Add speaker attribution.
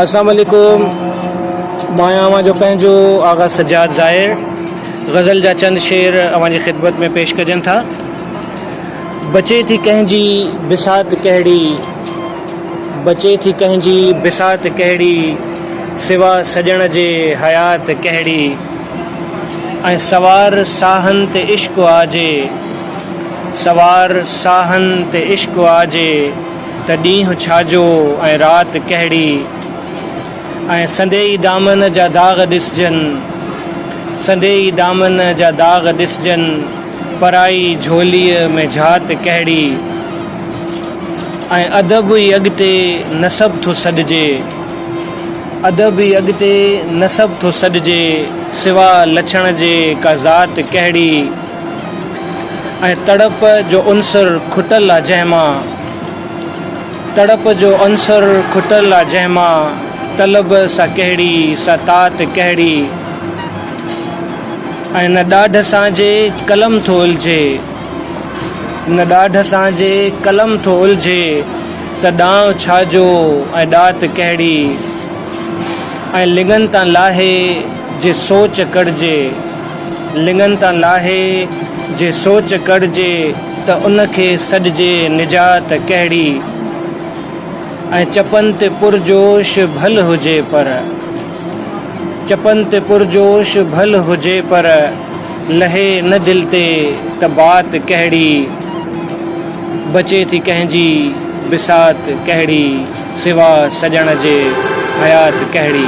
Speaker 1: اسلام عليڪم مايان اوهان جو پنهنجو آغا سجاد ظاهر غزل جا چند شعر اوهان جي خدمت ۾ پيش ڪجن ٿا بچي ٿي ڪنهن جي بسات ڪهڙي بچي ٿي ڪنهن جي بسات ڪهڙي سوا سڄڻ جي حيات ڪهڙي ۽ سوار ساهن تي عشق آجي سوار ساهن تي عشق آجي ته ڏينهن ڇاجو ۽ رات ڪهڙي ۽ سنديئي دامن جا داغ ڏسجن، سنديئي دامن جا داغ ڏسجن، پرائي جهوليء ۾ جهات ڪهڙي ۽ ادب ئي اڳتي نسب ٿو سڏجي، ادب ئي اڳتي نسب ٿو سڏجي، سوا لڇڻ جي ڪا ذات ڪهڙي. ۽ تڙپ جو عنصر کٽل آ جنهن مان تڙپ جو عنصر کٽل آ جنهن مان طلب سا ڪهڙي سا تات ڪهڙي ۽ نه ڏاڍ سان جي قلم ٿو الجهي نه ڏاڍ سان جي قلم ٿو الجهي ته ڏانء ڇا جو ۽ ڏات ڪهڙي ۽ لڱن تان لاهي جي سوچ ڪڙجي. لڱن تان لاهي، جي سوچ ڪڙهجي ته ان کي سڏجي نجات ڪهڙي؟ ۽ چپن تي پرجوش ڀل هجي پر. چپن تي پرجوش ڀل هجي پر، لهي نه دل تي ته بات ڪهڙي؟ بچي ٿي ڪنهن جي بسات ڪهڙي؟ سوا سڄڻ جي حيات ڪهڙي؟